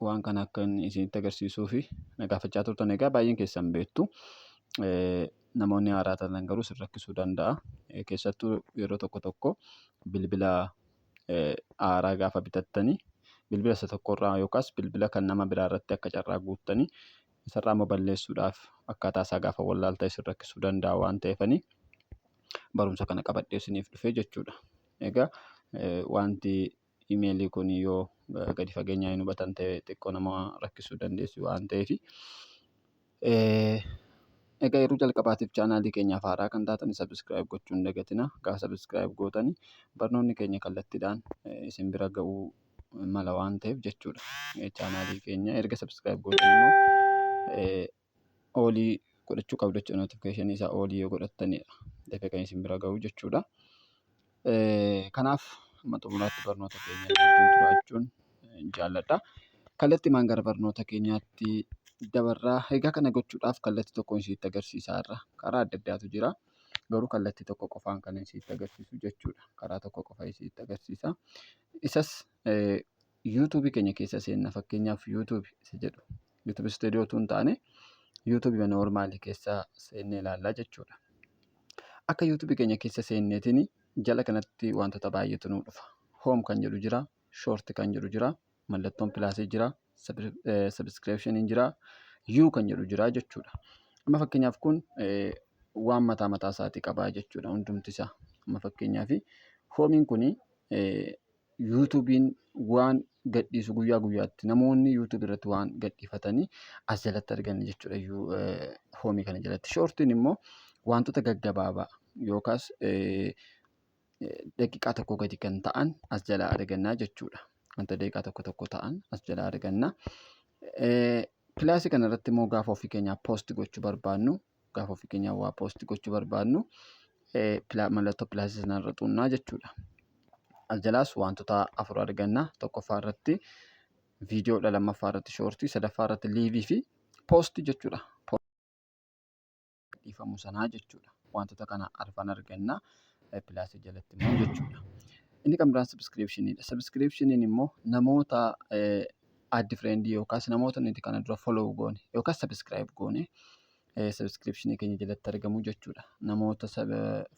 waan kana akka inni isinitti agarsiisuu fi na gaafachaa turtan egaa baay'een keessan beektu. Namoonni haaraa taatan garuu sin rakkisuu danda'a. Keessattuu yeroo tokko tokko bilbila haaraa gaafa bitattanii bilbila isa tokkorraa yookaas bilbila kan nama biraa irratti akka carraa guuttanii isarraa immoo balleessuudhaaf akkaataa isaa gaafa wallaaltan isin rakkisuu danda'a waan ta'eefanii barumsa kana qabadhee isiniif dhufee jechuudha. Egaa wanti email kun yoo gadi fageenyaa hin hubatan ta'e xiqqoo nama rakkisuu dandeessu waan ta'eef. Egaa yeroo jalqabaatiif chaanaalii keenyaaf haaraa kan taatan subscribe gochuu hin dagatina. Egaa subscribe gootan barnoonni keenya kallattiidhaan isin bira ga'uu mala waan ta'eef jechuudha. Chaanaalii keenya erga subscribe gootan immoo oolii godhachuu qabdu jechuudha. Notification isaa oolii yoo godhattanidha. Dafee kan isin bira gahu jechuudha. Kanaaf amma xumuraatti barnoota keenya wajjin turaa jechuun jaalladha. Kallattimaan gara barnoota keenyaatti dabarraa. Egaa kana gochuudhaaf kallattii tokkoon isinitti agarsiisaa irra. Karaa adda addaatu jira. Garuu kallattii tokko qofaan kan isinitti agarsiisu jechuudha. Karaa tokko qofa isinitti agarsiisa. Isas YouTube keenya keessa seenna fakkeenyaaf YouTube isa jedhu YouTube studio utuu hin taane YouTube mana ormaali keessa seennee ilaallaa jechuudha. Akka YouTube keenya keessa seenneetiin jala kanatti wantoota baay'eetu nu dhufa. Home kan jedhu jira, short kan jedhu jira, mallattoon pilaasii jira, subscription jira, you kan jedhu jira jechuudha. Amma fakkeenyaaf kun waan mataa mataa isaatii qabaa jechuudha hundumti isaa. Amma fakkeenyaaf hoomiin kun yuutuubiin waan gadhiisu guyyaa guyyaatti namoonni yuutuubii irratti waan gadhiifatanii as jalatti arganna jechuudha hoomii kana jalatti. Shoortiin immoo wantoota gaggabaabaa yookaas daqiiqaa tokko gadi kan ta'an as jalaa argannaa jechuudha. Wanta daqiiqaa tokko tokko ta'an as jalaa arganna. Pilaasii kana irratti immoo gaafa ofii keenyaa poost gochuu barbaannu gaafa ofii keenyaa waa poosti gochuu barbaadnu mallattoo pilaasii sana irra xuunnaa jechuudha. As jalaas wantoota afur arganna. Tokkoffaa irratti viidiyoodha, lammaffaa irratti shoortii, sadaffaa irratti liivii fi poosti jechuudha. Dhiifamu sanaa jechuudha. Wantoota kana arfan arganna pilaasii jalatti immoo jechuudha. Inni kan biraan sabiskiriipshiniidha. Sabiskiriipshiniin immoo namoota addi friend yookaas namoota nuti kana dura follow goone yookaas subscribe goone subscription keenya jalatti argamu jechuudha. Namoota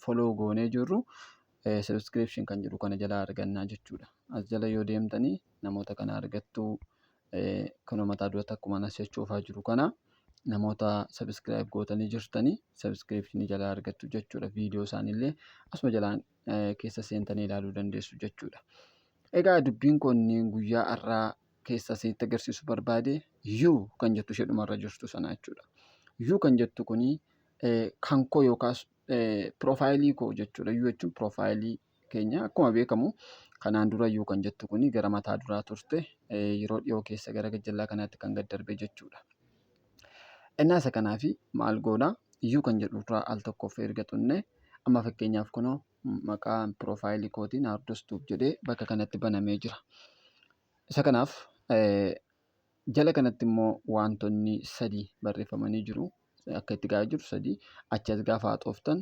follow goonee jirru subscription kan jedhu kana jalaa argannaa jechuudha. As jala yoo deemtanii namoota kana argattu kunoo mataa dura takkuma nas jechuufaa jiru kana namoota subscribe gootanii jirtanii subscription jalaa argattu jechuudha. Viidiyoo isaaniillee asuma jalaan keessa seentanii ilaaluu dandeessu jechuudha. Egaa dubbiin kun guyyaa har'aa keessa isinitti agarsiisu barbaade yuu kan jettu ishee dhumarra jirtu sana jechuudha. Yuu kan jettu kun kan koo yookaas piroofaayilii koo jechuudha. Yuu jechuun piroofaayilii keenya akkuma beekamu kanaan dura yuu kan jettu kun gara mataa duraa turte yeroo dhiyoo keessa gara gajjallaa kanaatti kan gad darbe jechuudha. Innaa isa kanaaf maal goona? Yuu kan jedhu irraa al tokkoof erga tunne amma fakkeenyaaf kunoo maqaan piroofaayilii kootii Naardos Tuub jedhee bakka kanatti banamee jira. Isa kanaaf jala kanatti immoo wantoonni sadii barreeffamanii jiru. Akka itti gahaa jiru sadii. Achi as gaafa haxooftan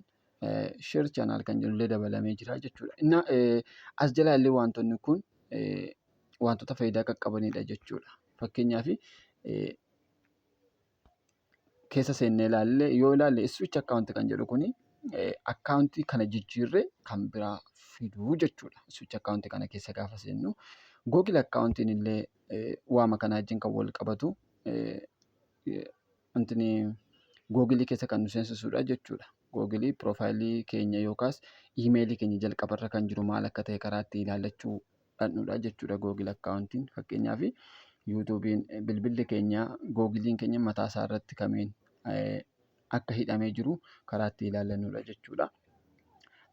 sheer chaanaal kan jedhullee dabalamee jira jechuudha. Innaa as jala illee wantoonni kun wantoota faayidaa qaqqabanidha jechuudha. Fakkeenyaaf keessa seennee ilaalle yoo ilaalle switch account kan jedhu kuni akkaawuntii kana jijjiirree kan biraa fiduu jechuudha. Switch account kana keessa gaafa seennu Google account illee waama kana wajjin kan wal qabatu wanti Google keessa kan nu seensisudha jechuudha. Google piroofaayilii keenya yookaas iimeelii keenya jalqabarra kan jiru maal akka ta'e karaa itti ilaallachuu dhandhudha jechuudha Google akkaawuntiin fakkeenyaaf yuutuubiin bilbilli keenya googiliin keenya mataa isaa irratti kamiin akka hidhamee jiru karaa itti ilaallannuudha jechuudha.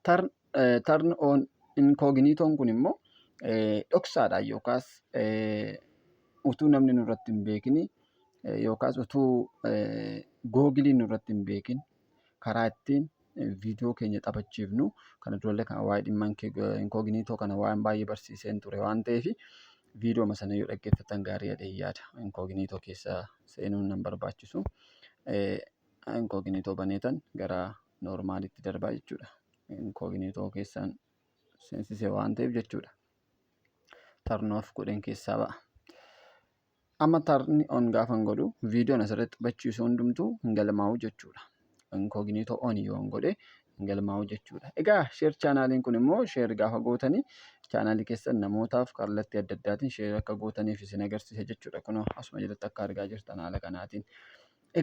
Tarn on inkooginiitoon kun immoo dhoksaadhaan yookaas utuu namni nurratti hin beekin yookaas utuu googiliin nurratti hin beekin karaa ittiin viidiyoo keenya taphachiifnu kana durallee kana waa'ee dhimma inkooginiitoo kana waan baay'ee barsiiseen ture waan ta'eef viidiyooma sana yoo dhaggeeffatan gaarii jedhee yaada inkooginiitoo keessa seenuun nan barbaachisu inkooginiitoo baneetan gara noormaalitti darbaa jechuudha inkooginiitoo keessaan seensisee waan ta'eef jechuudha tarnoof godheen keessaa ba'a. Amma tarn on gaafan godhu viidiyoon asirratti taphachiisu hundumtuu hin galmaa'u jechuudha. Inkooginiitoo on yoon godhe hin galmaa'u jechuudha. Egaa sheer chaanaaliin kun immoo sheer gaafa gootanii chaanaalii keessan namootaaf kallattii adda addaatiin sheer akka gootaniif isin agarsiisa jechuudha. Kunoo asuma jalatti akka argaa jirtan haala kanaatiin.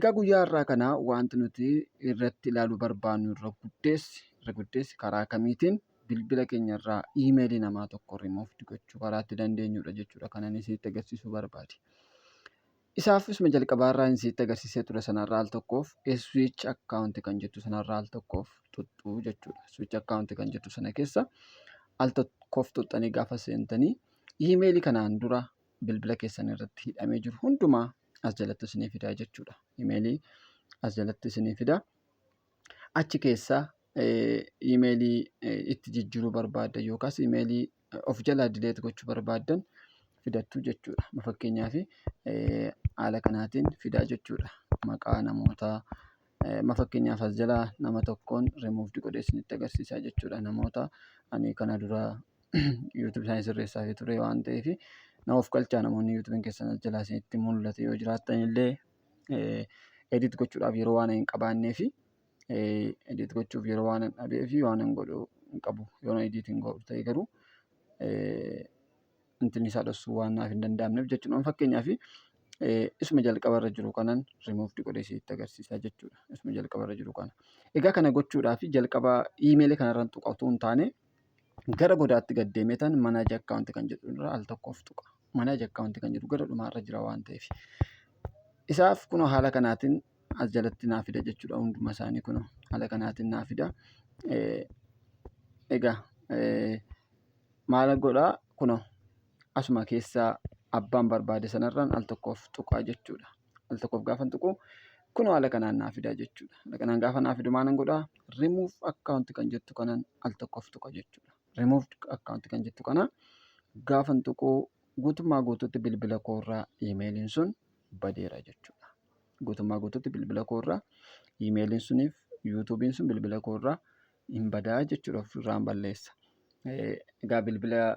Egaa guyyaa har'aa kana wanti nuti irratti ilaaluu barbaannu irra guddeessi irra guddeessi karaa kamiitiin bilbila keenya irraa iimeelii namaa tokko removed gochuu karaa itti dandeenyudha jechuudha kan ani isinitti agarsiisuu barbaade. Isaafis ma jalqabaa irraa hin sitti agarsiisee ture sanarraa al tokkoof switch account kan jettu sanarraa al tokkoof tuttuu jechuudha. Switch account kan jettu sana keessa al tokkoof tuttanii gaafa seentanii iimeelii kanaan dura bilbila keessan irratti hidhamee jiru hundumaa as jalatti isinii fidaa jechuudha. Iimeelii as jalatti isinii fidaa. achi keessa imeelii itti jijjiiruu barbaaddan yookaas imeelii of jalaa dileet gochuu barbaaddan fidattu jechuudha. Ma fakkeenyaaf haala kanaatiin fidaa jechuudha. Maqaa namootaa ma fakkeenyaaf as jalaa nama tokkoon remove godhee isinitti agarsiisaa jechuudha. Namoota ani kana dura youtube isaanii sirreessaafii ture waan ta'eef na ofkalchaa namoonni youtube keessan as jalaa isinitti mul'ate yoo jiraattan illee. edit gochuudhaaf yeroo waan hin qabaannee fi edit gochuuf yeroo waan hin dhabee fi waan hin godhu hin qabu. Yoon edit hin godhu ta'e garuu intinni isaa dhossuu waan naaf hin danda'amneef jechuudha. Fakkeenyaaf isuma jalqaba irra jiru kanan remove godhee sitti agarsiisaa jechuudha. Isuma jalqaba irra jiru kana. Egaa kana gochuudhaaf jalqaba iimeelii kanarraan tuqa utuu hin taane Gara godaatti gad deemeetan manage account kan jedhu irra al tokkoof tuqa. Manage account kan jedhu gara dhumaa irra jira waan ta'eef. Isaaf kunoo haala kanaatiin as jalatti naa fida jechuudha hunduma isaanii kunoo haala kanaatiin naa fida. Egaa maal godhaa kunoo asuma keessaa abbaan barbaade sanarraan al tokkoof tuqaa jechuudha. al tokkoof gaafan tuqu kunoo haala kanaan naa fidaa jechuudha. Haala kanaan gaafa naa fidu maalan godhaa remove account kan jettu kanaan al tokkoof tuqa jechuudha. Removed account kan jettu kana gaafan tuqu guutummaa guutuutti bilbila koorraa iimeeliin sun badeera jechuudha. Guutummaa guutuutti bilbila koorraa iimeeliin suniif yuutuubiin sun bilbila koorraa hin badaa jechuudha ofirraan balleessa. Egaa bilbila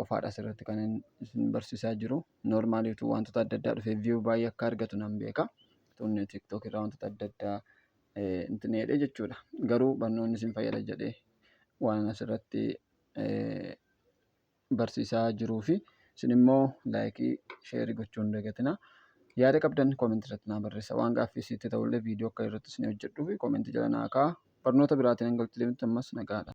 qofaadha asirratti kan isin barsiisaa jiru. Noormaalii utuu wantoota adda addaa dhufee viyuu baay'ee akka argatu nan beeka. Tun tiktok irraa wantoota adda addaa intin jedhee jechuudha. Garuu barnoonni isin fayyada jedhee waan asirratti barsiisaa jiruu fi isin immoo laayikii sheerii gochuu hin dagatina. Yaada qabdan koomentii irratti naa barreessa. Waan gaaffii isiitti ta'ullee viidiyoo akka irratti isin hojjedhuuf koomentii jala naa ka'a. Barnoota biraatiin hanga walitti deemnutti ammas nagaadha.